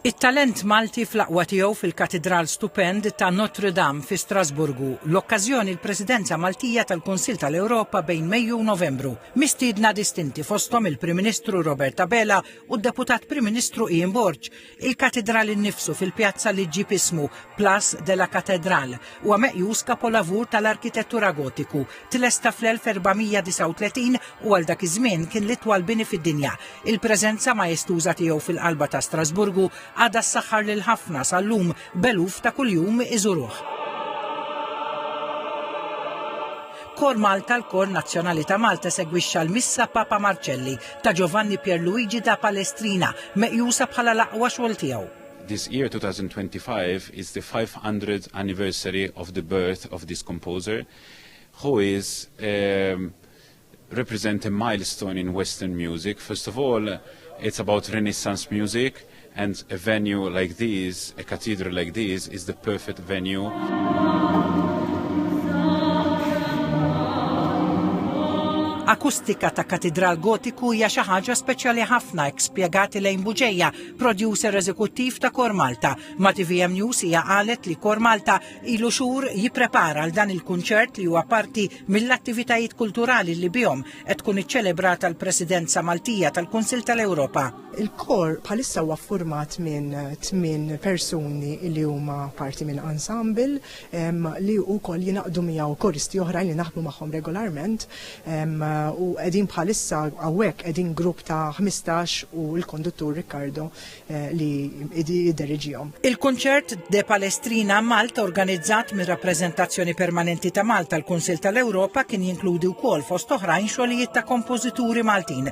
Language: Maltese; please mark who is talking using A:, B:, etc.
A: It-talent Malti fl-aqwa tiegħu fil-Katidral stupend ta' Notre Dame fi Strasburgu, l-okkażjoni l-Presidenza Maltija tal-Kunsill tal-Ewropa bejn Mejju u Novembru. Mistiedna distinti fosthom il-Prim Ministru Robert Abela u d-Deputat Prim Ministru Ian Borg, Il-Katidral innifsu fil-pjazza li ġġib ismu, Place de la Cathédrale, huwa meqjus kapolavur tal-arkitettura Gotiku. Tlesta fl-1439 u għal dak iż-żmien kien l-itwal bini fid-dinja. Il-preżenza maestuża tiegħu fil-qalba ta' Strasburgu għadha ssaħħar lil ħafna sal-lum b'eluf ta' kuljum iżuruh. Kor Malta, l-kor nazzjonali ta' Malta, esegwixxa l-Missa Papa Marċelli. ta' Giovanni Pierluigi da Palestrina, meqjusa bħala l-aqwa xogħol tiegħu. This year
B: 2025 is the 500th anniversary of the birth of this composer who is um, represent a milestone in Western music. First of all, it's about Renaissance music. And a venue like this, a cathedral like this, is the perfect venue.
A: Akustika ta' katidral gotiku hija xi ħaġa speċjali ħafna hekk spjegati lejn Buġeja, producer eżekuttiv ta' Kor Malta. Ma' TVM News hija qalet li Kor Malta ilu xhur jipprepara għal dan il-kunċert li huwa parti mill-attivitajiet kulturali li bihom qed tkun iċċelebrata l-Presidenza Maltija tal-Kunsill tal-Ewropa. Il-kor bħalissa
C: huwa ffurmat minn tmien persuni li huma parti minn ensemble ehm, li wkoll jingħaqdu miegħu koristi oħrajn li naħdmu magħhom regolarment ehm, u qegħdin bħalissa hawnhekk qegħdin grupp ta' 15 u l-konduttur Riccardo eh, li jidderigihom. Il-kunċert
A: De Palestrina Malta organizzat mir-Rappreżentazzjoni Permanenti ta' Malta l-Kunsill tal-Ewropa kien jinkludi wkoll fost oħrajn xogħlijiet ta' kompożituri Maltin